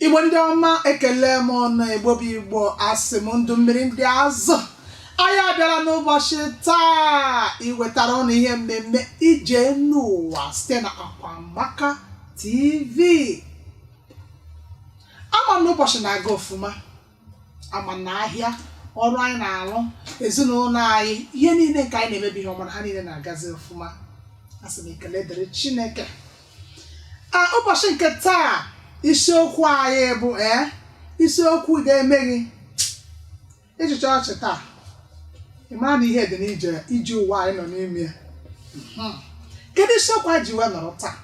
igbo ndị ọma ekele m ụnụ igbo bụ igbo asị m ndụ mmiri ndụ azụ anyị abịala n'ụbọchị taa iwetara ụnụ ihe mmemme ije n'ụwa site na akwamaka tv ama m na ụbọchị na-aga ofuma ama m na ahịa ọrụ anyị na-arụ ezinụlọ anyị ihe niile nke anyị na-eme bụ ihe ọma na ha niile na-agazi ọfụma a sị m ekele dịrị chineke a ụbọchị nke taa isiokwu anyị bụ ee isiokwu ga-eme gị ị chịchaa ọchị taa ị mara na ihe dị n'ije ụwa anyị nọ n'ime ya Mhm. kedu isiokwu a ji wee nọrọ taa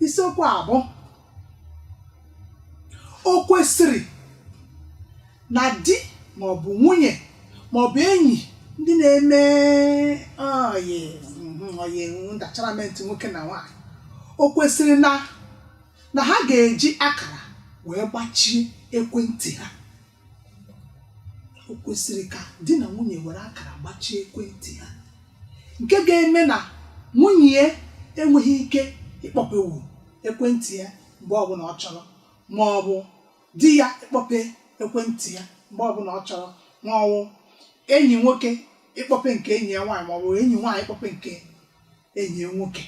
isiokwu a bụ o kwesịrị na di maọbụ nwunye maọbụ enyi ndị na-eme ọyị mhm, ọyị ndacharamentị nwoke na nwaanyị o kwesịrị na na ha ga-eji akara wee gbachie ekwentị ha o kwesịrị ka di na nwunye were akara gbachie ekwentị ha nke ga-eme na nwunye ya enweghị ike ịkpọpewu ekwentị ya mgbe ọbụla ọ chọrọ ma ọ bụ di ya ịkpọpe ekwentị ya mgbe ọbụla ọ chọrọ ma ọ bụ enyi nwoke ịkpọpe nke enyi ya nwaanyị ma ọ bụ enyi nwaanyị ịkpọpe nke enyi ya nwoke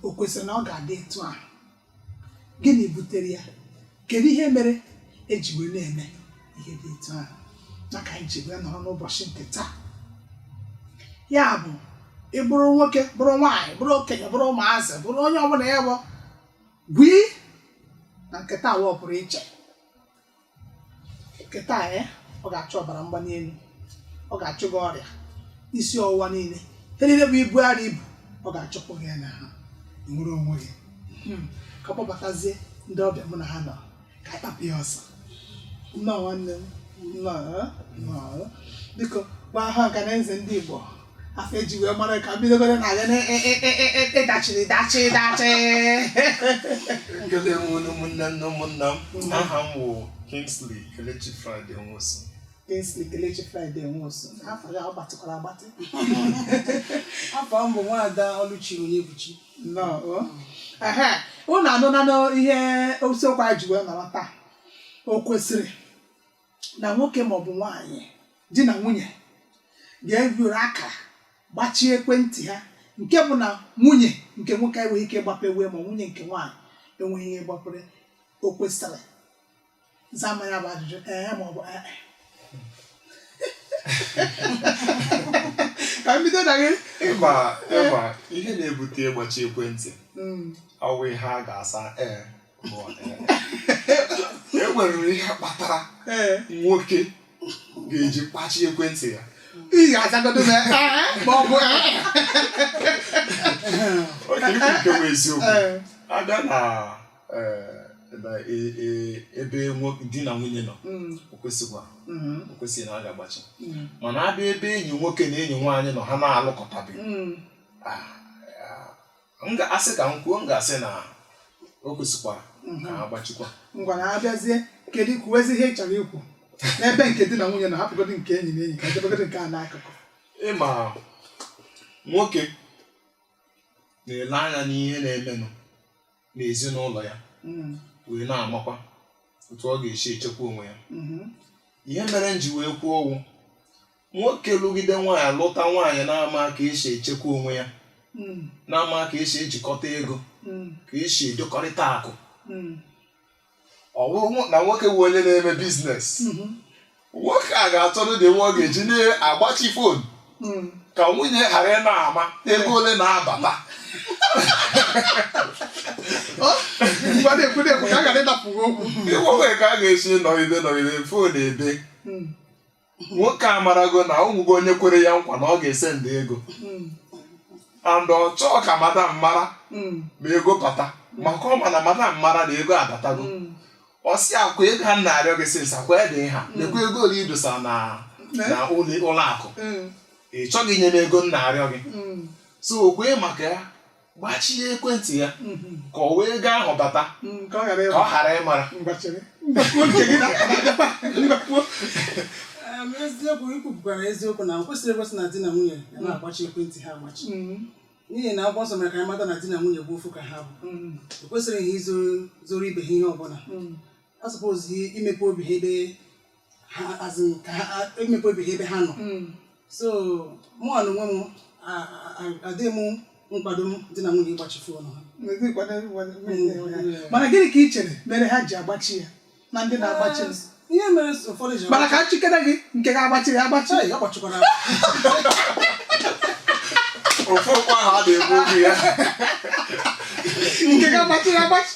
o kwesịrị na ọ ga-adị etu ahụ gịnị butere ya kedu ihe mere eji wee na-eme ihe dị etu ahụ maka anyị ji wee nọrọ n'ụbọchị nke taa ya bụ ị bụrụ nwoke bụrụ nwaanyị bụrụ okenye bụrụ ụmụazị bụrụ onye ọbụla ya bụ gwii na nke taa wa ọ pụrụ iche nke taa eh, ọ ga-achụ ọbara mgbali elu ọ ga-achụ gị ọrịa isi ọwụwa niile ihe niile bụ ibu arọ i bu ọ ga-achụpụ gị ya n'ahụ nwere onwe gị hmm. ka m kpọbatazie ndị ọbịa mụ na ha nọ ka anyị kpapụ ya ọsọ nnọọ nwanne m nnọọ eh, biko gwa ọha na eze ndị Igbo afa eji wee mara ka m bidogodu na gị dachiri dachị dachị Ekele m unu ụmụnne m na ụmụnna m aha m wụ Kingsley Kelechi Friday Nwosu Kingsley Kelechi Friday Nwosu afa ya ọ gbatịkwara agbatị afa m bụ nwaada Ọlụchi Onyebuchi nnọọ o. Ehe, unu anụnanụ ihe isiokwu anyị ji wee nọrọ taa o kwesịrị na nwoke maọbụ nwaanyị di na nwunye ga-ewere akara gbachie ekwentị ha nke bụ na onye nke nwoke enweghị ike ịgbapewe ma onye nke nwaanyị enweghị ike ịgbapere o kwesịrị zaa m ya bụ ajụjụ ee maọbụ ee ka m bido na gị ịgba ịgba ihe na-ebute ịgbachi ekwentị Mm, ọ wụ ihe a ga-asa ee e nwere ihe kpatara nwoke ga-eji kpachi ekwentị ya ị ga-azagodo m ma ọ bụ okay ikwu nke bụ eziokwu abịa na ebe di na nwunye nọ o kwesịkwa o kwesịghị na a ga-agbachi mana abịa ebe enyi nwoke na enyi nwaanyị nọ ha na-alụkọtabeghị m ga-asị ka m kwuo m ga-asị na o kwesịkwara ka a gbachikwa ngwa na abịazie kedu ikwuwezi ihe ị chọrọ ikwu n'ebe nke di na nwunye na hapụgodu nke enyi na enyi ka e debegodu nke a n'akụkụ ị ma nwoke na-ele anya n'ihe na-emenụ n'ezinụlọ ya Mm, wee na-amakwa otu ọ ga-esi echekwa onwe ya mhm. ihe mere m ji wee kwuo ọ wụ nwoke lụgide nwaanyị lụta nwaanyị na-ama ka esi echekwa onwe ya mm, na-ama ka esi ejikọta ego mm, ka esi edokọrịta akụ mm, ọ bụrụ nwo- na nwoke bụ onye na-eme business mhm, nwoke a ga-achọrọ the way ọ ga-eji na-agbachi phone mm. ka nwunye ghara ịna-ama ego ole na-abata Ọ, ngwa na-ekwu na-ekwu ka a ghara ịnapụ gị okwu ịgbanwe ka a ga-esi nọgide nọgide phone ebe Mm, nwoke amarago na o nwego onye kwere ya nkwa na ọ ga-esendi ego Mm. and ọ chọọ ka madam mara Mm. ma ego bata maka ọ ma na madam mara na ego abatago Mm. ọ sị akwa ego a m na-arịọ gị since akwa dị ha lekwa ego ole ị dosa na na ụlọ ụlọ akụ Mm. ị chọghị inye m ego m na-arịọ gị Mm. so okwe maka ya gbachie ekwentị ya ka ọ wụ ego ahụ bata ka ọ ghara ịmara eziokwu i kwupụtara eziokwu na o kwesịrị ekwesị na di na nwunye ya na-agbachi ekwentị ha agbachi mm-hmm. n'ihi na akwụkwọ nsọ mere ka anyị mata na di na nwunye bụ ofu ka ha bụ mm-hmm. o kwesịrị ha izoro ibe ha ihe ọbụla mm-hmm. ha suppose imepe obi ha ebe ha azụ ka ha imepe obi ha ebe ha nọ Mm. so mụọ na onwe m a- a- a- adịghị m nkwado m di na nwunye ịgbachi foonu ha N'ezi nkwado nkwado mmiri ya. mana gịnị ka ị chere mere ha ji agbachi ya na ndị na-agbachi m? ihe mere so ụfọdụ ji mana ka m chetara gị nke gị agbachi ya agbachi Chai, agbachikwara m. ofu okwu ahụ a na-ekwu okwu ya nke ga-agbachi ya agbachi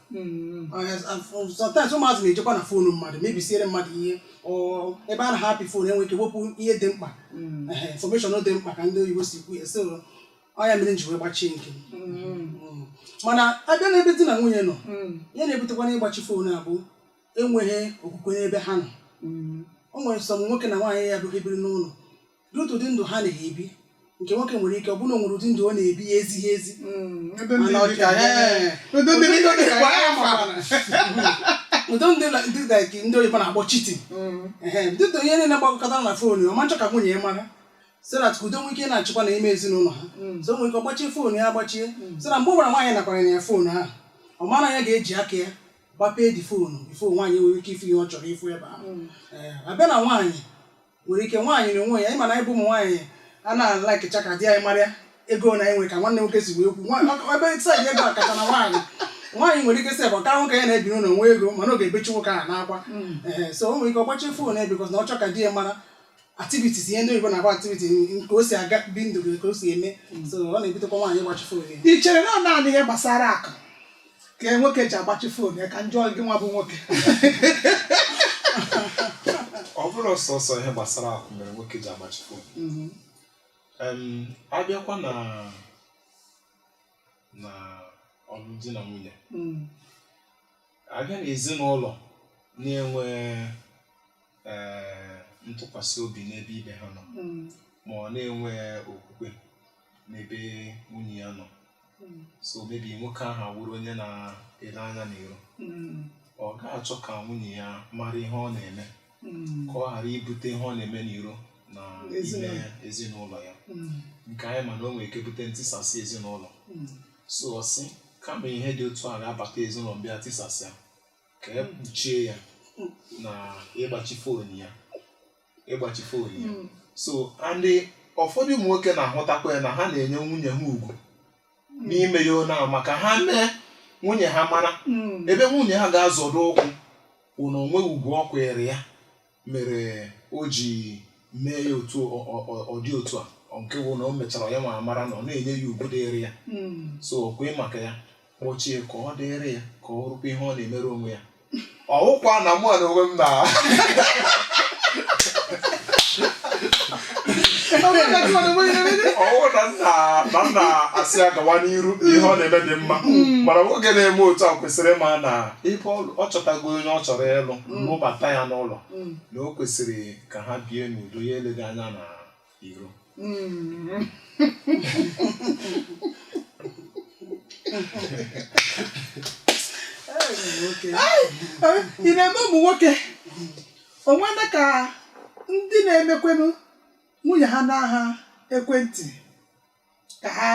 Mm. sometimes ụmụazị na-ejekwa na foonu mmadụ mebisiere mmadụ ihe ọ- ebe ha na-apị foonu e nwe ike wepụ ihe dị mkpa Mm. ehe, information dị mkpa ka ndị oyibo si kwu ya so ọ ya mere m ji wee gbachie nke m. Mm. Mm. mana abịa n'ebe di na nwunye nọ Mm. ihe na-ebutekwa n'ịgbachi foonu a bụ enweghị okwukwe n'ebe ha nọ Mm. o nwere some nwoke na nwaanyị ya bụ ebiri n'ụlọ otu ụdị ndụ ha na-ebi nke nwoke nwere ike ọ bụrụ na o nwere ụdị ndụ ọ na-ebi na-ezighị ezi Mm, ebe ndị Mana ọ dị ka- ka- ee. ebe ndị dị ka- Kwa ya ma. ụdị ndị la- ndị da- ka ndị oyibo na-akpọ cheating Mm, dịka onye niile gbakọtara na fon ya ọ ma-achọ ka nwunye ya mara so that ka udo nwee ike na-achịkwa na ime ezinụlọ ha Mm. so nwee ike ọgbachie fon ya agbachie so na mgbe ọ wụla nwaanyị nakwara ya fon ahụ ọ mara ya ga-eji aka ya gbapee the phone before nwaanyị nwere ike ifu ihe ọ chọrọ ifu ebe ahụ mm. Ee, abịa na nwaanyị nwere ike nwaanyị na onwe ya ịma na anyị bụ ụmụ nwaanyị anaghị alikecha ka di anyị mara ya ego na-enwe ka nwanne nwoke si wee kwu Nwa- ọ- ebe side ego kacha na nwaanyị nwaanyị nwere ike sị ebe ọ ka nwoke ya na-ebi n'ụlọ nwe ego mana ọ ga-ebechi nwoke ahụ n'akwa Ee, so o nwere ike ọ gbachie fon ya because na ọ chọ ka di ya mara activities ihe ndị oyibo na-akpọ activity nke o si aga ebi ndụ gị ka o si eme so ọ na-ebutekwa nwaanyị ịgbachi fon ya i chere na ọ naanị ihe gbasara akụ ka nwoke ji agbachi fon ya ka m jụọ gị nwa bụ nwoke ọ bụrụ sọsọ ihe gbasara akụ mere nwoke ji agbachi fon mhm. a bịakwa na na ọlụ di na nwunye mm. a bịa na ezinụlọ na-enwe eh, ntụkwasị obi n'ebe ibe ha nọ mm. ma ọ na-enwe okwukwe n'ebe nwunye ya nọ hmm. so maybe nwoke ahụ awụrụ onye na-ele anya n'iro hmm. ọ ga-achọ ka nwunye ya mara ihe ọ na-eme hmm. ka ọ ghara ibute ihe ọ na-eme n'iro na ime ezinụlọ ya nke anyị ma na o nwere ike bute ntisasị ezinụlọ so ọ sị kama ihe dị otu a ga-abata ezinụlọ m bịa tisasịa ka e kpuchie ya na ịgbachi fon ya ịgbachi fon ya Mm. so and ụfọdụ ụmụ nwoke na-ahụtakwa ya na ha na-enye nwunye ha ugwu n'ime ihe ahụ maka ha mee nwunye ha mara Mm. ebe nwunye ha ga-azọdo ụkwụ wụ na o nwe ugwu ọ kwanyeere ya mere o ji mee ya otu ọ- ọ- ọ- ọ dị otu a ọ nke bụ na o mechara ya nwa mara na ọ na-enye ya ugwu dịrị ya Mm. so o kwee maka ya kpọchie ka ọ dịrị ya ka ọ rụkwa ihe ọ na-emere onwe ya ọ wụkwa na mụ na onwe m na ọ wụ na m na na m na-asị ya gawa n'iru ihe ọ na-eme dị mma mana nwoke na-eme otu a kwesịrị ịma na ebe ọ- ọ chọtago onye ọ chọrọ ịlụ lụbata ya n'ụlọ na o kwesịrị ka ha bie n'udo ya eleghị anya na iro mm. ị na-eme ụmụ nwoke onwena ka ndị na-emekwenụ nwunye ha n'aha ekwentị ka ha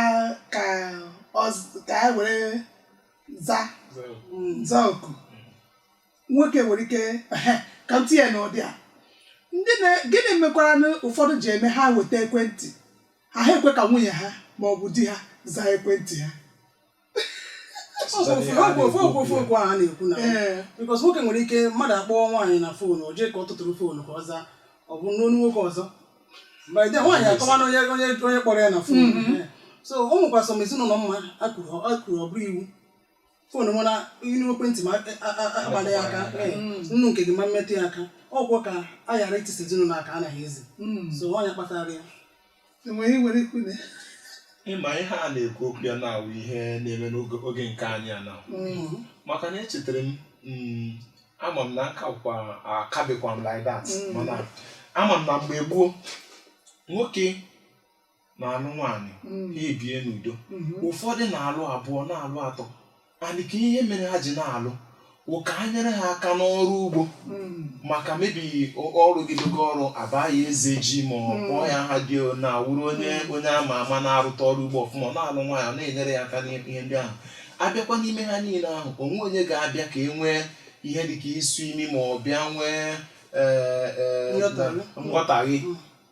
ka ọ z- ka ha were za za oku nwoke nwere ike ehe, ka m tinye n'ụdị a ndị na gịnị mekwaranụ ụfọdụ ji eme ha weta ekwentị ha ha ekwe ka nwunye ha ma ọ bụ di ha zaa ekwentị ha okwu a na-ekwu na because nwoke nwere ike mmadụ akpọọ nwaanyị na foonu o jee ka ọ tụtụrụ foonu ka ọ zaa ọ bụ onu nwoke ọzọ mgbe nwaanyị akọwa na onye onye onye kpọrọ ya na foonu mm-hmm. so o nwekwa some ezinụlọ m ma kwuru ọ bụrụ iwu foonu nwere iru ekwentị m akpala ya aka mm. nnu nke gị ama m emetụ ya aka ọ wụ ka a ghara itisa ezinụlọ aka anaghị ezi mm. so nwaanyị kpatara ya e nwere ihe i nwere ikwu na ya. ị ma ihe a na-ekwu okwu ya na-awụ ihe na-eme n'oge oge nke anyị a na Mm, maka na echetara m mm, ama m na akakwa akabekwa m like that Mm. mana ama m na mgbe gboo nwoke na-alụ nwaanyị mm, ha ebie n'udo mm. ụfọdụ na-alụ abụọ na-alụ atọ and ka ihe mere ha ji na-alụ wụ ka a nyere ha aka n'ọrụ ugbo maka maybe ọ- ọ rụgidogo ọrụ a baa ya eze ji ma ọ kpọọ ya aha dị na awụrụ onye onye a ma ama na-arụta ọrụ ugbo ọfụma ọ na-alụ nwaanyị ọ na-enyere ya aka n'ihe ndị ahụ a bịakwa n'ime ha niile ahụ o nwee onye ga-abịa ka e nwee ihe dị ka isu imi ma ọ bịa nwee ee, ee, Nghọtahie. nghọtahie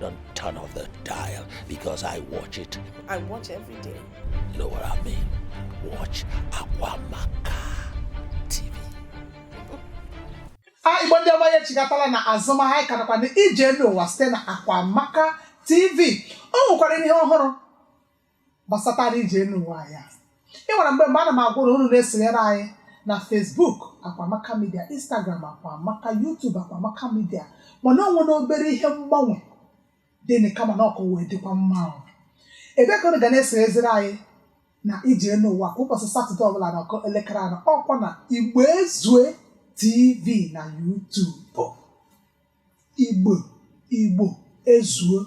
Don't turn off the dial because I watch it. I watch every day. You know what I mean? Watch Akwamaka TV. Ah, Igbo ndị ọma anyị echigatala n'azụ ma anyị karakwa na ije enu ụwa site na Akwamaka TV. O nwekwara ihe ọhụrụ gbasatara ije enu ụwa anyị a. ị nwere mgbe mgbe ana m agwa unu unu na-esonyere anyị na Facebook Akwamaka Media Instagram Akwamaka YouTube Akwamaka Media mana o nwere obere ihe mgbanwe dịnị kama na ọkụ wee dịkwa mma ahụ ebe ka unu ga na-esonyeziri anyị na ije enu ụwa kwa ụbọchị satọde ọbụla na ọ kụọ elekere anọ ọ kwa na Igbo Ezue TV na YouTube Igbo Igbo ezuo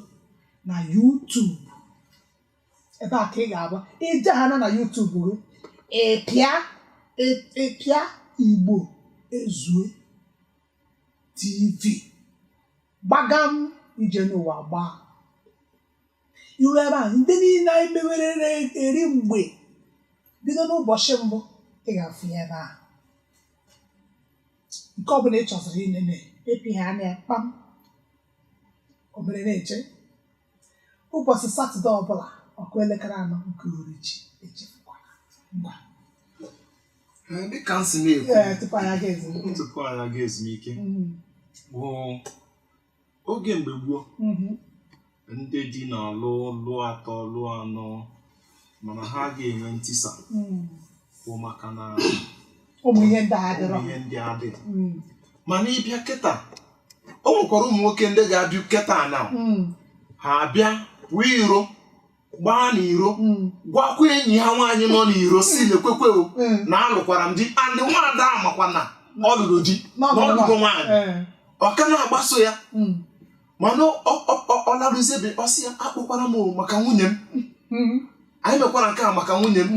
na YouTube ebe a ka ị ga-agba i jehana na YouTube gị ị pịa ị- ị pịa Igbo ezuo TV gbagam ije enu ụwa agbaa i ruo ebe a ndị niile anyị mewerere eri mgbe bido n'ụbọchị mbụ ị ga-afụ ya ebe a nke ọbụla ị chọziri inene ị pịhana ya kpam o mere na-eche ụbọchị satọde ọbụla ọ kụọ elekere anọ nke uhuruchi echefukwala ngwa Ee, dịka m si na-ekwu ee tupu anyị aga ezumike tupu anyị aga ezumike Mm, bụ oge mgbe gboo Mhm. ndị di na-alụ lụọ atọ lụọ anọ mana ha ga-enwe ntisa Mm. bụ maka na ụmụ ihe ndị a adịrọ ihe ndị adị Mm. mana ị bịa kịta o nwekwara ụmụ nwoke ndị ga-abịa kịta na Mm. ha abịa pụọ iro gbaa n'iro mm. gwakwa enyi ha nwaanyị nọ n'iro sị mm. lekwekwe mm. na alụkwara m di and nwaada a makwa na ọ lụrụ di na ọ lụgo nwaanyị eh. ọ ka na-agbaso ya mana ọ laruzie be ọ sị ya akpọkwala m maka nwunye m anyị mekwara nke a maka nwunye m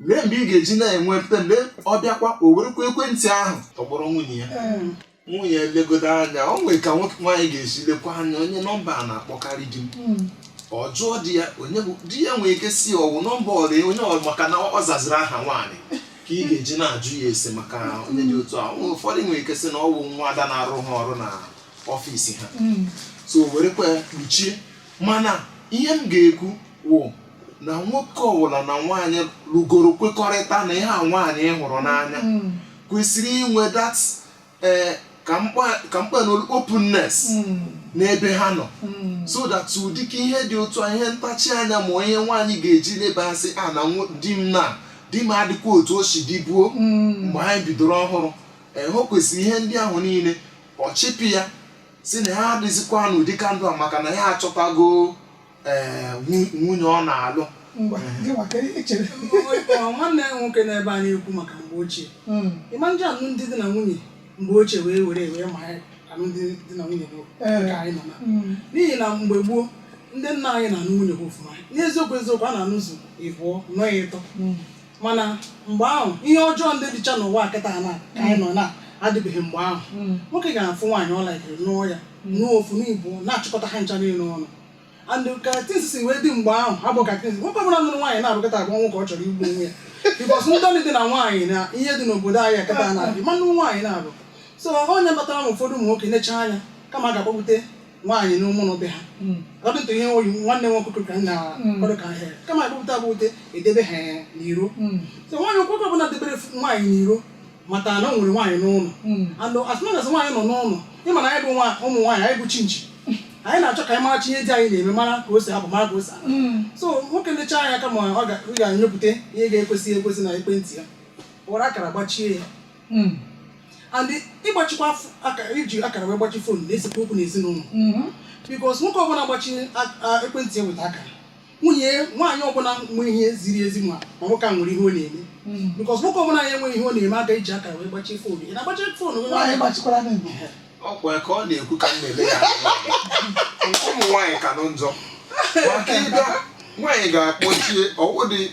lee mgbe ị ga-eji na-enwe mpe lee ọ bịakwa o werekwa ekwentị ahụ tọgbọrọ nwunye ya eh. nwunye legodo anya o nwere ka nwoke nwaanyị ga-esi lekwa anya onye nọmba a na-akpọkarị di m hmm. ọ jụọ di ya onye bụ di ya nwere ike sị ọ wụ nọmba ọyị ya onye ọ maka na ọ zaziri aha nwaanyị ka ị ga-eji na-ajụ ya ese maka onye dị otu a ụfọdụ nwere ike sị na ọ wụ nwaada na-arụ ha ọrụ na ọfịs ha hmm. so werekwa ya kpuchie mana ihe m ga-ekwu wụ na nwoke ọbụla na nwaanyị lụgoro kwekọrịta na ihe a nwaanyị hụrụ n'anya hmm. kwesịrị inwe that eh, ka m kpaa ka m kpaa na ọ wụ openness n'ebe ha nọ so that ụdị ka ihe dị otu a ihe ntachi anya ma ihe nwaanyị ga-eji leba asị a na nwo- di m na di m adịkwa otu o si dịbu mgbe anyị bidoro ọhụrụ ee o kwesịrị ihe ndị ahụ niile ọ chịpụ ya si na ha adịzikwa n'ụdị ka ndụ a maka na ya achọtago ee nwu- nwunye ọ na-alụ ngwa gị nwa kee ihe i chere nwanne ya nwoke n'ebe a na-ekwu maka mgbe ochie Mm, ị ma ndị alụmdi na nwunye mgbe ochie wee were wee ma ya alụmdi na nwunye bụ Ee. nke anyị nọ na mm, n'ihi na mgbe gboo ndị nna anyị na-anụ nwunye ha ofụma n'eziokwu eziokwu ha na-anụzu ịbụọ nụọ ya ịtọ mm. mana mgbe ahụ ihe ọjọọ ndị dịcha n'ụwa kịta na ka anyị nọ na adịbeghị mgbe ahụ Mm. nwoke ga-afụ nwaanyị ọ laikiri nụọ ya nụọ ofu nụọ ịbụọ na-achịkọta ha ncha niile ọnụ and ka things si wee dị mgbe ahụ ha bụ ka things nwoke ọbụla nụrụ nwaanyị naabọ kịta a gwa nwoke ọ chọrọ igbu onwe ya because ndọlị dị na nwaanyị na ihe dị n'obodo anyị kịta na-adị mma ịnụ nwaanyị naabọ so ọ ya kpatara na ụfọdụ ụmụ nwoke necha anya kama ha ga-akpọbata nwaanyị n'ụnọ be ha according to ihe oyi nwanne nwoke kwuru ka m na-akwado ka ha kama akpọbata akpọbata e debe ha n'iro so nwaanyị nwoke ọbụla debere nwaanyị n'iro mata na o nwere nwaanyị n'ụlọ hmm. and as long as nwaanyị nọ n'ụlọ ị ma na anyị bụ ụmụ nwaanyị anyị bụ chinchi anyị na-achọ ka anyị maracha ihe di anyị na-eme mara ka o si apụ mara ka o si hmm. so nwoke lecha anya kama ọ ga-enyopụta ihe na-ekwesịghị ekwesị n'ekwentị ya were akara gbachie ya hmm. and ịgbachikwa iji akara wee gbachi phone na-esekwa okwu n'ezinụlọ because nwoke ọbụla gbachi ekwentị ya weta akara nwunye nwaanyị ọbụla nwe ihe ziri ezi ma ma nwoke a nwere ihe ọ na-eme hmm. because nwoke ọbụla na-enweghị ihe ọ na-eme aga eji aka wee gbachie phone ị na-agbachi phone gị nwaanyị gbachikwara n'igbo ọkwa ka ọ na-ekwu ka m na-ele ya ụmụ nwaanyị ka njọ maka ịbịa nwaanyị ga-akpọchie ọ wụ di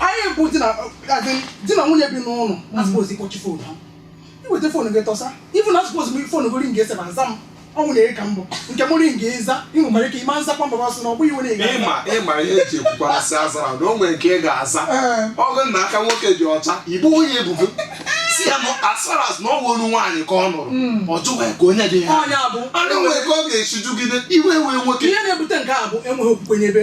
anyị bụ di na nwunye bi n'ụlọ a suppose ịkpọchi phone ha iweta phone gị tọsa ịfụ na a suppose m phone gị ringị esebe aza m ọnwụ na ka mbụ nke mụ ringị ị zaa ị nwekwara ike ịma nzakwa mbaba sị na ọ bụghị iwe na-ega ịma ịma ihe eji ekwukwara sị azara na o nwere nke ị ga-aza ọ wụ na aka nwoke dị ọcha ịbụ onye ebubo si ya as far as na ọ wụrụ nwaanyị ka ọ nụrụ hmm. ọ jụwa ka onye dị ya anụ nwere ka ọ ga-esi jụgide iwe wee nwoke ihe na-ebute nke a bụ enweghị okwukwe n'ebe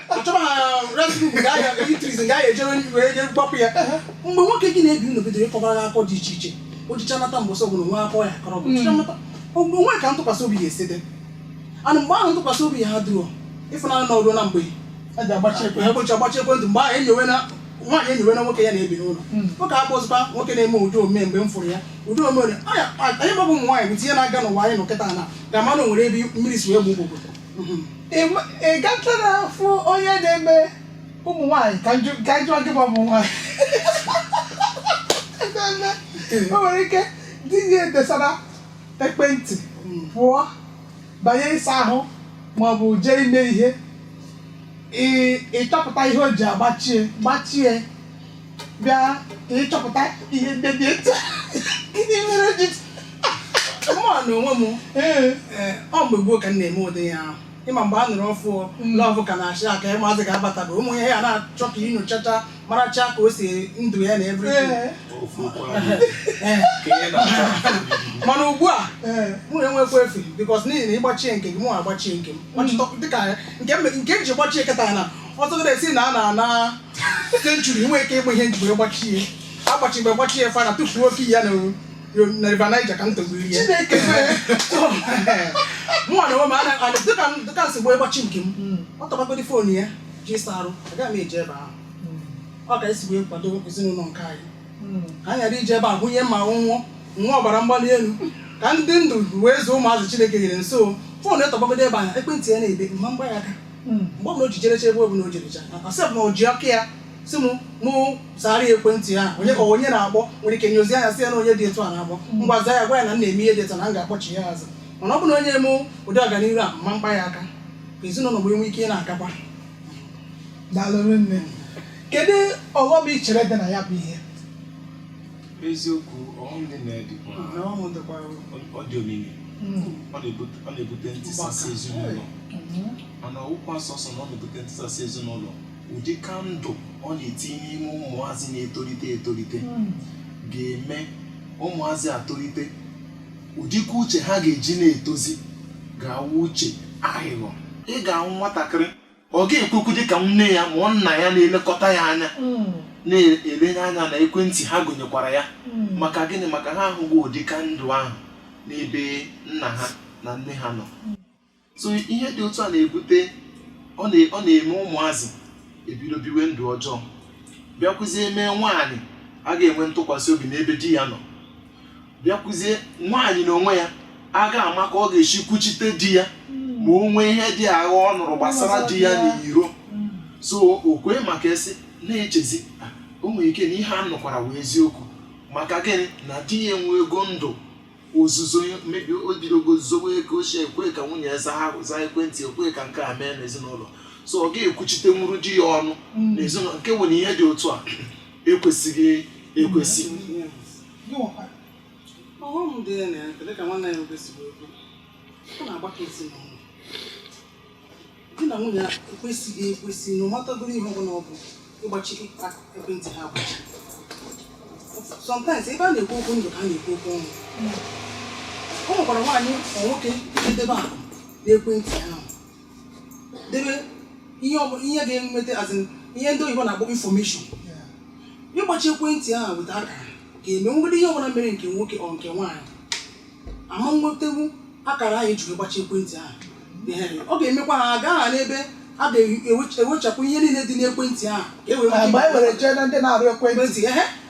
achọba ha restaurant ga ya eateries ga ya ejere ndị wee je gbapụ ya mgbe nwoke gị na-ebi ndụ bidoro ịkọbara gị akụkọ dị iche iche o jicha nata mbọsị ọbụla nwe akụkọ ọ ya-akọrọ bụ jicha nata ogbe o nwe ka ntụkwasị obi ya esi dị ana mgbe ahụ ntụkwasị obi ya ha dụọ ịfụnanya na ọrụ na mgbe a ji agbachi ekwe egbochi agbachi ekwentị mgbe ahụ enyowe na nwaanyị enyowe na nwoke ya na-ebi n'ụlọ nwoke akpọ ozugbo nwoke na-eme ụdị omume mgbe m fụrụ ya ụdị omume onye anyị gbabụ ụmụ nwaanyị bụ tinye na-aga n'ụwa anyị nọ kịta na ga-ama na o nwere ebe mmiri si wee gbu gbogbo ị gatara fụ onye na-eme ụmụ nwaanyị ka njọ ka m jụ gị bụ ụmụ nwaanyị o nwere ike di ya edesara ekwentị pụọ banye ịsa ahụ ma ọ bụ jee ime ihe ị- ịchọpụta ihe o ji agbachie gbachie bịa ịchọpụta ihe ndị dị etu gịnị mere ji mụọ na onwe m ọ mgbe gboo ka m na-eme ụdị ihe ahụ ịma mgbe a nụrụ ọfụụ love ka na-achị aka ụmụazị ka abatago ụmụ ihe ya na-achọ ka i nyochacha maracha ka o si ndụ ya na everything mana ugbu a mụ enwekwa efe because n'ihi na ịgbachie nke gị mụ agbachie nke m dịka nke m ji gbachie kịta na ọtụtụ na-esi na a na-ana century inwe ike ịgba ihe m ji gbachi ihe agbachi mgbe gbachi ya final tụfuo key ya na na river niger ka m togbu ihe chineke mụnwa na onwe m ana- ana- dịka m- dịka m si gboo ịgbachi nke m ọ tọgbagodi phone ya je ịsa arụ agaghị m eje ebe ahụ ọ ka esi wee kwado ezinụlọ nke anyị ka anyị ghara ije ebe ahụ nye m nwụọ nwa ọbara mgbali elu ka m dị ndụ wee zụọ ụmụazị chineke nyere m so phone etọgbagodi ebe ahụ ekwentị ya na-ebe ama m kpa ya aka mgbe ọbụla o ji jerecha ebe ọbụla o jerecha asị m na o ji aka ya sị m mụ zaara ya ekwentị ya onye ka onye na-akpọ nwere ike nyozi anya sị ya na onye dị etu a na-akpọ ngwa zaa ya gwa ya na m na-eme ihe dị etu a na m ga-akpọchi ya azụ mana ọ bụ na o nye mụ ụdị ọganihu ama m kpa ya aka ka ezinụlọ wee nwee ike ịna-agakwa daalụ nne kedu ọghọm i chere dị na ya bụ ihe eziokwu ọghọm dị na ya dịkwa na ọghọm dịkwa ọ dị omimi ọ na-ebute ọ na-ebute ntisasị ezinụlọ mana ọ wụkwa sọsọ na ọ na-ebute ntisasị ezinụlọ ụdị ka ndụ ọ na-etinye n'ime ụmụazị na-etolite etolite ga-eme ụmụazị atolite ụdịka uche ha ga-eji na-etozi ga-awụ uche aghịghọ ị ga-ahụ nwatakịrị ọ ga-ekwekwu dị ka nne ya ma ọ nna ya na-elekọta ya anya Mm. na-elenye anya na ekwentị ha gụnyekwara ya Mm. maka gịnị maka ha ahụghị ụdị ka ndụ ahụ n'ebe nna ha na nne ha nọ so ihe dị otu a na-ebute ọ na- ọ na-eme ụmụazị ebido biwe ndụ ọjọọ bịakwuzie mee nwaanyị aga enwe ntụkwasị obi n'ebe di ya nọ bịakwuzie nwaanyị na onwe ya aga ama ka ọ ga-esi kwuchite di ya ma o nwee ihe dị aghaa ọ nụrụ gbasara di ya n'iro so ọ kwa ị ma ka e si na-echezi "Ah, o nwere ike na ihe a nụkwara wụ eziokwu maka gịnị na di ya enwego ndụ ozuzo maybe o bidogo zowe ego ochie ekwe ka nwunye ya zaa zaa ekwentị ekwe ka nke a mee n'ezinụlọ so ọ ga-ekwuchitenwuru di ya ọnụ n'ezinụlọ nke nwere ihe dị otu a ekwesịghị ekwesị ọghọm dị ya na ya dịka nwanne ya nwoke si wee kwuo ọ na-agbaka ezinụlọ di na nwunye ekwesịghị ekwesị no matter godu ihe ọbụla ọ bụ ịgbachi ịkpa ekwentị ha agbachi sometimes ebe a na-ekwu okwu ndụ ka a na-ekwu okwu ọnwụ o nwekwara nwaanyị ma nwoke edebe akụ n'ekwentị ahụ debe ihe ọbụla ihe ga-enweta as in ihe ndị oyibo na-akpọ information ịgbachi ekwentị ahụ weta akara ga-eme nwere ihe ọbụla mere nke nwoke ọ nke nwaanyị ama nwetanwu akara ahụ e jiri gbachi ekwentị ahụ Ehe, ọ ga-emekwa ha aga ha n'ebe a ga-ewechapụ ihe niile dị n'ekwentị ahụ ka e wee nwee ike- mgbe anyị were jee na ndị na-arụ ekwentị ekwentị ehe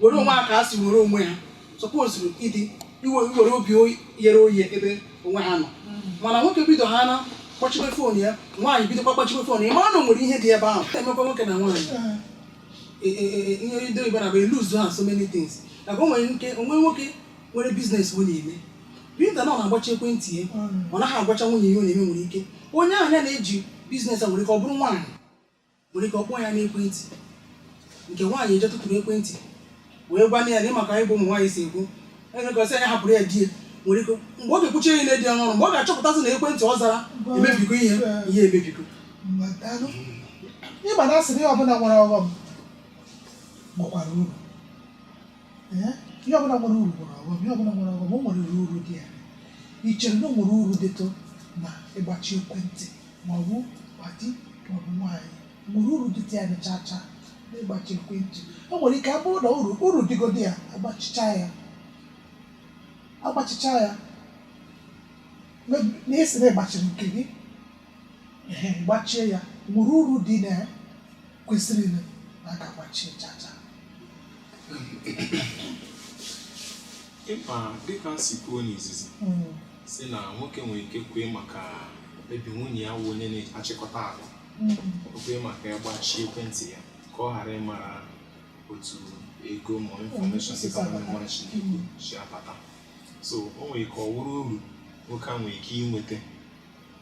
were onwe ha ka ha si were onwe ha sọpozuru ịdị inwe inwere obi oyi- ghere oye ebe onwe ha nọ mana nwoke bido ha na kpọchibe phone ya nwaanyị bidokwa kpọchibe phone ya mara na o nwere ihe dị ebe ahụ na-emekwa nwoke na nwaanyị e- e- e- e- ihe ndị oyibo na bụ eluzu ha so many things maka o nwere ike o nwee nwoke nwere business ọ na-eme being that na ọ na-agbachi ekwentị ya ọ naghị agwacha nwunye ya ihe ọ na-eme nwere ike onye ahụ ya na-eji business a nwere ike ọ bụrụ nwaanyị nwere ike ọ kpọọ ya n'ekwentị nke nwaanyị eje tụtụrụ ekwentị wee gwa ya na ị ma ka anyị bụ ụmụ nwaanyị si ekwu enyekọsị anyị hapụrụ ya di ya nwere ike mgbe ọ ga-ekwuchi ihe na-edi ọnụ mgbe ọ ga-achọpụtasị na ekwentị ọ zara emebigo ihe ihe emebigo Igbo na-asị ihe ọbụla nwere ọghọm nwekwara uru ihe ọbụla nwere uru nwere ọghọm ihe ọbụla nwere ọghọm o nwere uru dị ya echere na o nwere uru dịtụ na ịgbachi ekwentị ma ọ bụ ma di ma ọ bụ nwaanyị nwere uru dịtụ ya chacha n'ịgbachi ekwentị o nwere ike abụrụ na uru uru dịgodi ya agbachicha ya agbachicha ya maybe na e sị na ịgbachiri nke gị ehe, gbachie ya nwere uru dị na ya kwesịrị na a ga-agbachie chacha ị ma dịka m si kwuo n'izizi hmm. sị na nwoke nwere ike kwee maka ebe nwunye ya wụ onye na-achịkọta akụ hmm. kwee maka ya gbachie ekwentị ya ka ọ ghara ịmara otu ego ma infọmeshọn dịka mara Chineke si abata so o nwere ike ọ wụrụ uru nwoke a nwere ike inweta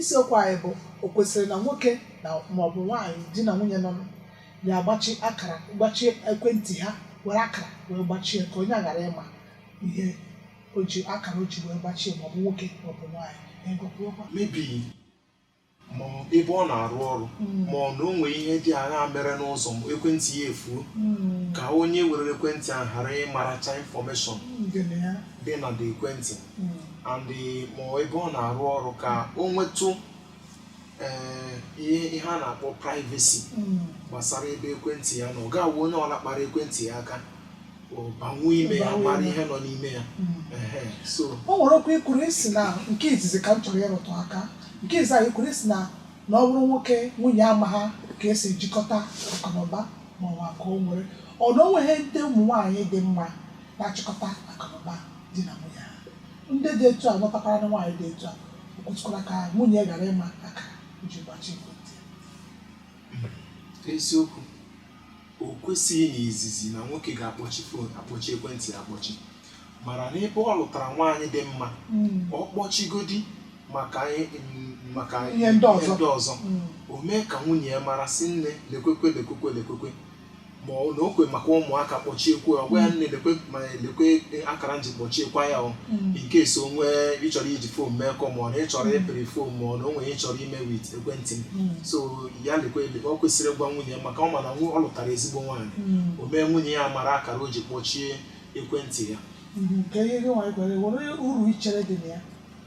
Isiokwu anyị bụ o kwesịrị na nwoke na maọbụ nwaanyị di na nwunye nọ na-agbachi akara gbachie ekwentị ha were akara wee gbachie ka onye a ghara ịma ihe o ji akara o ji wee gbachie maọbụ nwoke maọbụ nwaanyị egwukwuokwa maybe ma ọ bụ ebe ọ na-arụ ọrụ ma ọ na o nwee ihe dị aghaa mere n'ụzọ ma ekwentị ya efuo ka onye were ekwentị ahụ ghara ịmaracha infọmeshọn dị na the ekwentị and ma ebe ọ na-arụ ọrụ ka o nwetụ ee, ihe ihe a na-akpọ privacy gbasara ebe ekwentị ya na ọ ga-awụ onye ọla kpara ekwentị ya aka ọ banwuo ime ya Banwuo mara ime. ihe nọ n'ime ya Ehe, so o nwere okwu i kwuru i sị na nke izizi ka m chọrọ ịrụtụ aka nke izizi a i kwuru i sị na na ọ bụrụ nwoke nwunye amaha ka e si ejikọta akụnụba ma ọ bụ akụ o nwere ọ na o nweghị ndị ụmụ nwaanyị dị mma na-achịkọta akụnụba di na nwunye ha ndị dị etu a lụtakwaranụ nwaanyị dị etu a o kwesịkwara ka nwunye ghara ịma akara e ji gbachi ekwentị ya. eziokwu o kwesịghị n'izizi na nwoke ga-akpọchi fon akpọchi ekwentị ya akpọchi mana n'ebe ọ lụtara nwaanyị dị mma ọ kpọchigodi maka ihe mm, maka Ihe ndị ọzọ. ọzọ Mm. o mee ka nwunye ya mara sị nne lekwekwe lekwekwe lekwekwe ma ọ na o kwe maka ụmụaka kpọchiekwa ya ọ gwa ya nne lekwe ma lekwe akara m ji kpọchiekwa ya o Mm. in case o nwee ị chọrọ iji fon mee call ma ọ na ị chọrọ ịpịrị fon ma ọ na o nwere ị chọrọ ime with ekwentị m Mm. so ya lekwe lekwe ọ kwesịrị ịgwa nwunye ya maka ọ ma na nwu- ọ lụtara ezigbo nwaanyị Mm. o mee nwunye ya mara akara o ji kpọchie ekwentị ya Mhm. ka ihe gị nwaanyị gwara gị, nwere uru i chere dị na ya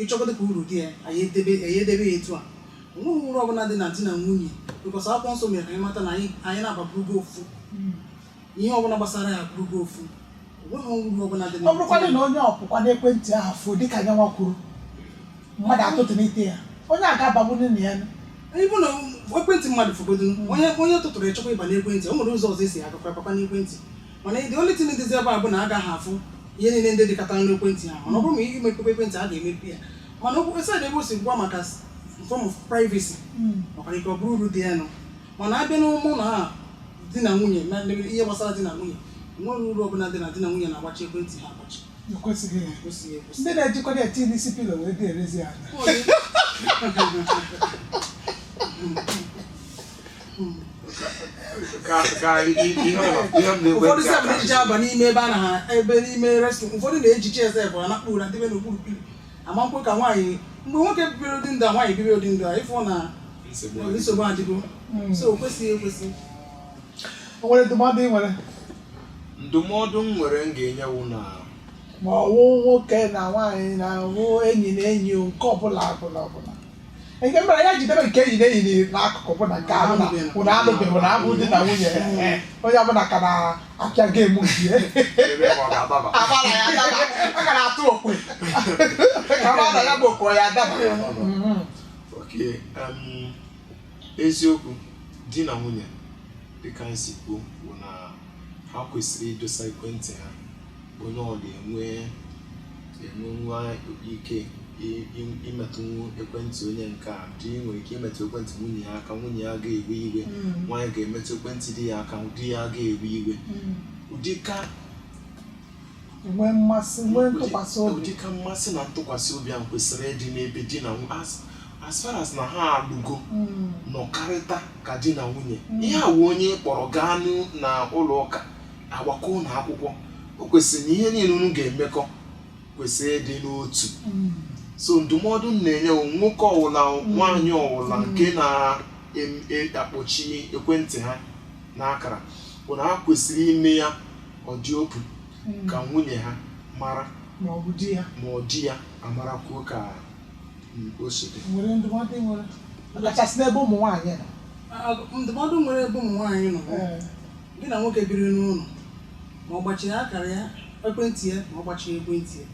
ị chọgodo ka uru dị ya anyị edebe ya edebe ya etu a onweghị uru ọbụla dị na di na nwunye because akwụkwọ nsọ mere ka anyị mata na anyị anyị naabọ abụrụgo ofu ihe ọbụla gbasara ya abụrụgo ofu onweghị uru ọbụla dị na ọ bụrụkwadị na onye ọ bụkwa na ekwentị ahụ fuo dịka nyanwa kwuru mmadụ atụtụnite ya onye a ga-abagburu na ya ọ bụ na ekwentị mmadụ fuogodo onye onye tụtụrụ ịchọkwa ịba n'ekwentị o nwere ụzọ ọzọ e si agakwa baba n'ekwentị mana the only thing dịzi ebe a bụ na a gaghị afụ ihe niile ndị dịkọtara n'ekwentị ha mana ọ bụrụ ma imepekwa ekwentị a ga-emepe ya mana okwu aside ebe o si gwa maka some form of privacy nwekwara ike ọ bụrụ uru dị ya nụ mana a bịa n'ụmụ na ha di na nwunye na ndị ihe gbasara di na nwunye o nwere uru ọbụla dị na di na nwunye na-agbachi ekwentị ha agbachi ekwesịghị ya kwesịghị ekwesị ndị na-ejikọrọ ya tii n'isi pillow wee dierezi ala Ọ dị- ụfọdụ sef na-ejiche aba n'ime ebe a na ha ebe n'ime restroom ụfọdụ na-ejiche sef ha na kpuru na debe n'okpuru pillow amakwụ ka nwaanyị mgbe nwoke bibiri ụdị ndụ a nwaanyị bibiri ụdị ndụ a ị fụ na nsogbu adịgo hmm. so o kwesịghị ekwesị o nwere ndụmọdụ ị nwere ndụmọdụ m nwere m ga-enye wụ na ma ọ wụ nwoke na nwaanyị ma ọ wụ enyi na enyi nke ọbụla ọbụla ọbụla nke mere ya jidebe nke enyi na enyi n'akụkụ bụ na nke ahụ na unu alụbeghị unu abụ di na nwunye eh, onye ọbụla ka na-apịa game nke ya Ebe ọ ga-adaba. ọ dabara ya adaba a ka na-atụ okwe ka ọ na ya bụ okwe ya adaba Mhm. Okay, um, eziokwu di na nwunye dịka anyị si kwuo bụ na ha kwesịrị idosa ekwentị ha onye ọ ga-enwe enwenwu ike i- i- imetụnwu ekwentị onye nke a di nwere ike imetụ ekwentị nwunye ya aka nwunye ya ga-ewe iwe nwaanyị ga-emetụ ekwentị di ya aka di ya ga-ewe iwe ụdịka nwee mmasị nwee ntụkwasị obi ụdịka mmasị na ntụkwasị obi ahụ kwesịrị ịdị n'ebe di na nwunye as- as far as na ha alụgo Mm. nọkarịta ka di na nwunye ihe a wụ onye ị kpọrọ gaa n'u- na ụlọ ụka a gbakọọ unu akwụkwọ o kwesịrị na ihe niile unu ga-emekọ kwesịrị ịdị n'otu so ndụmọdụ m na-enye wụ nwoke ọwụla nwaanyị ọwụla nke na-akpọchi ekwentị ha n'akara bụ na ha kwesịrị ime ya ọ dị open ka nwunye ha mara ma ọ bụ di ya ma ọ di ya amarakwuo ka mm, o si dị o nwere ndụmọdụ ị nwere kachasị n'ebe ụmụ nwaanyị nọ ndụmọdụ m nwere ebe ụmụ nwaanyị nọ Ee. gị na nwoke biri n'ụlọ ma ọ gbachiri akara ya ekwentị ya ma ọ gbachiri ekwentị ya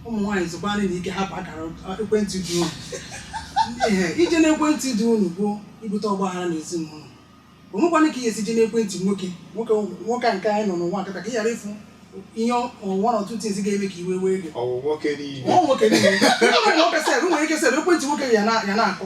ụmụ nwaanyị zukwanụ ike hapụ akara ekwentị di unu ee ije n'ekwentị di unu bụ ibute ọgbaghara na ezinụlọ o nwekwana ka ị ya-esi je n'ekwentị nwoke nwoke nwoke nke anyị nọ n'ụwa kịta ka ị ghara ịfụ ihe ọnwa na ọtụtụ ezi ga-eme ka iwe wee gị ọwụ nwoke niile ọ nwoke niile ọ nwere nwoke sef nwere ike sef ekwentị nwoke ya na- ya na-akụ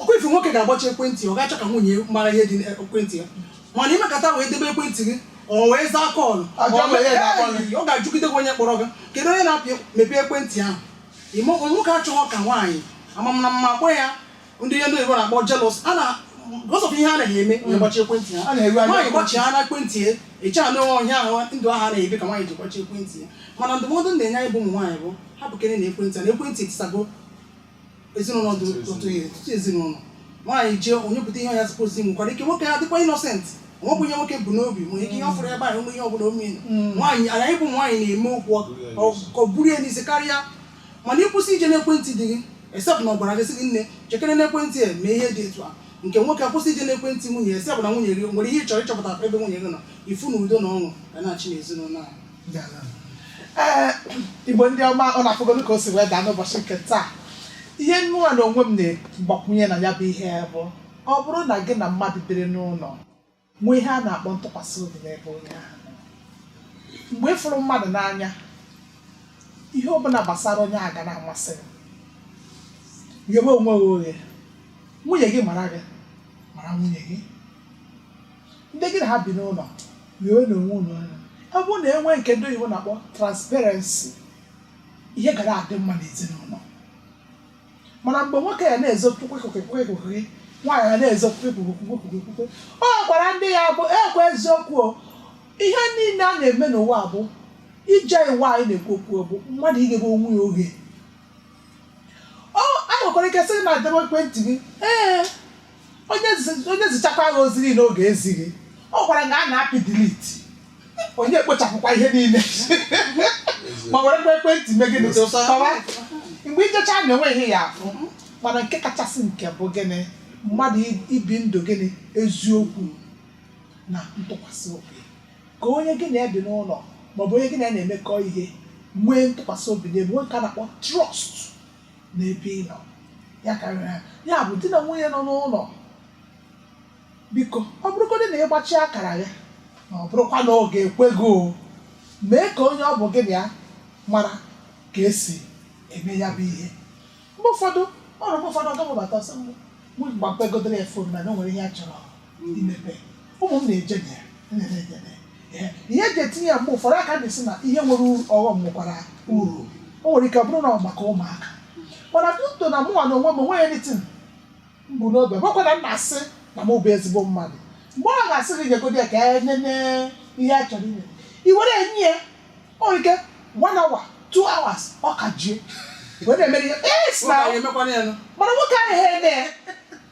ọkwa ife nwoke ga-agbachi ekwentị ọ ga-achọ ka nwunye mara ihe dị n'ekwentị ya mana i mekata wee debe ekwentị gị ọ wee zaa call Ajọ ọ mee- ihe ga-akpọ gị. Ee, ọ ga-ajụgide gị onye kpọrọ gị kedu onye na-apị mepee ekwentị ahụ Ime- nwoke achọghọ ka nwaanyị amamna mma akpọ ya ndị ihe ndị oyibo na-akpọ jealous a na because of ihe a naghị eme ya gbachi ekwentị A na-eru ya anya nwaanyị ekwentị. gbachia na ekwentị ya ị chee na onye ahụ ndụ ahụ a na-ebi ka nwaanyị ji gbachi ekwentị ya mana ndụmọdụ m na-enye anyị bụ ụmụ nwaanyị bụ hapụkere na ekwentị a na ekwentị etisago ezinụlọ dị otu ihe ọtụtụ ezinụlọ nwaanyị jee onye pụta ihe ọnya sịpụrụ si nwekwara ike nwoke ya dịkwa innocent o nweghị ihe nwoke bu n'obi nwere ike ihe ọ fụrụ ebe ahụ ihe ọbụla ome nwaanyị anyị bụ nwaanyị na-eme okwu ọ buru ya n'isi karịa mana ị kwụsị ije n'ekwentị di gị except na ọ gwara gị sị gị nne jekere n'ekwentị a mee ihe dị etu a nke nwoke akwụsị ije n'ekwentị nwunye except na nwunye gị nwere ihe ị chọrọ ịchọpụta ebe nwunye gị nọ ị fụ na udo na ọṅụ ga na-achị n'ezinụlọ ahụ ee Igbo ndị ọma ụnụ afụgonụ ka o si wee daa n'ụbọchị nke taa ihe mụnwa na onwe m na-agbakwunye na ya bụ ihe bụ ọ bụrụ na gị na mmadụ biri n'ụlọ nwee ihe a na-akpọ ntụkwasị obi n'ebe onye ahụ nọ. mgbe ị fụrụ mmadụ n'anya ihe ọbụla gbasara onye ahụ ga na-amasị gị ghebe onwe gị oghe nwunye gị mara gị mara nwunye gị ndị gị na ha bi n'ụlọ ghewenụ onwe ụnụ ọnụ ọ bụrụ na e nwee nke ndị oyibo na-akpọ transparency ihe ga na-adị mma n'ezinụlọ mana mgbe nwoke ya na-ezo kwukwe kwukwe kwukwe kwukwe nwaanyị ya na-ezo kwukwe kwukwe kwukwe kwukwe kwukwe ọ gwara ndị ya bụ ekwe eziokwu o ihe niile a na-eme n'ụwa bụ ije iwa anyị na-ekwu okwu bụ mmadụ ighebe onwe ya oghe ọ a nwekwara ike sị na adebe ekwentị gị ee onye zi- onye zichakwa gị ozi niile ọ ga-ezi gị ọ gwara gị a na-apị delete onye ekpochapụkwa ihe niile ma werekwa ekwentị mee gịnị kọwa mgbe ị jechaa na o nwehị ihe ị ya-afụ mana nke kachasị nke bụ gịnị mmadụ i- ibi ndụ gịnị eziokwu na ntụkwasị obi ka onye gị na ya bi n'ụlọ maọbụ onye gị na ya na-emekọ ihe nwee ntụkwasị obi nke bekee na-akpọ trust n'ebe ị nọ ya karịa ya bụ di na nwunye nọ n'ụlọ biko ọ bụrụgodị na ị gbachi akara gị na ọ bụrụkwa na ọ ga-ekwe gị o mee ka onye ọ bụ gị na ya mara ka e si eme ya bụ ihe mgbe ụfọdụ ọrụ mgbe ụfọdụ ọ gbabata ọsọ mgbe mgbe gbapegodoro ya phone na na o nwere ihe a chọrọ ndị mepee ụmụ m na-eje na ya na-eme ya eme ya. ihe eji etinye ya mgbe ụfọdụ a ka na-asị na ihe nwere uru ọghọm nwekwara uru o nwere ike ọ bụrụ na ọ maka ụmụaka mana duto na mụnwa na onwe m o nweghị anything m bu n'obi ọ bụkwa na m na-asị na mụ bụ ezigbo mmadụ mgbe ọ ga-asị gị nyegodi ya ka e nene ihe a chọrọ ime i were nye ya o nwere ike one hour two hours ọ ka ji ya were emere ya yes Ụmụ na anyị emekwana ya nụ. mana nwoke ahụ ha eme ya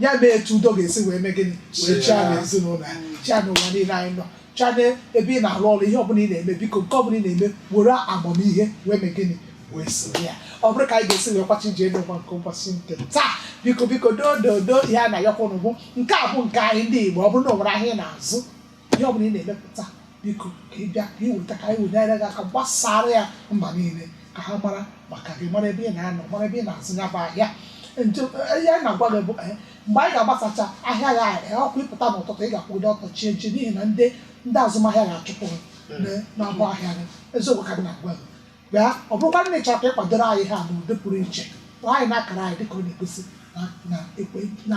ya mee etu udo ga-esi wee mee gịnị wee chịa na ezinụlọ ya chịa n'ụwa niile anyị nọ chịa n'ebe ị na-arụ ọrụ ihe ọbụla ị na-eme biko nke ọbụla ị na-eme were amamihe wee mee gịnị wee soro ya ọ bụrụ ka anyị ga-esi wee kwachi ije n'ụwa nke ụbọchị nke taa biko biko doo doo doo ihe a na-ayọkwa unu bụ nke a bụ nke anyị ndị Igbo ọ bụrụ na o nwere ahịa ị na-azụ ihe ọbụla ị na-emepụta biko ka ị bịa ka ị weta ka anyị wee nyere gị aka gbasara ya mba niile ka ha mara maka gị mara ebe ị na-anọ mara ebe ị na-azụ ya bụ ahịa njem ihe anyị na-agwa gị bụ eh, mgbe anyị ga-agbasacha ahịa ya eh, ọ kwa ị pụta n'ụtụtụ ị ga-akwụdo ọtọ chee nche n'ihi na ndị ndị azụmahịa ga-achụpụ gị na- n'ọdụ ahịa gị eziokwu ka m na-agwa gị bịa ọ bụrụkwa na ị chọrọ ka ị kwado ọrụ anyị a n'ụdị pụrụ iche kpọọ anyị n'akara anyị dịka ọ na-egosi na na ekwe na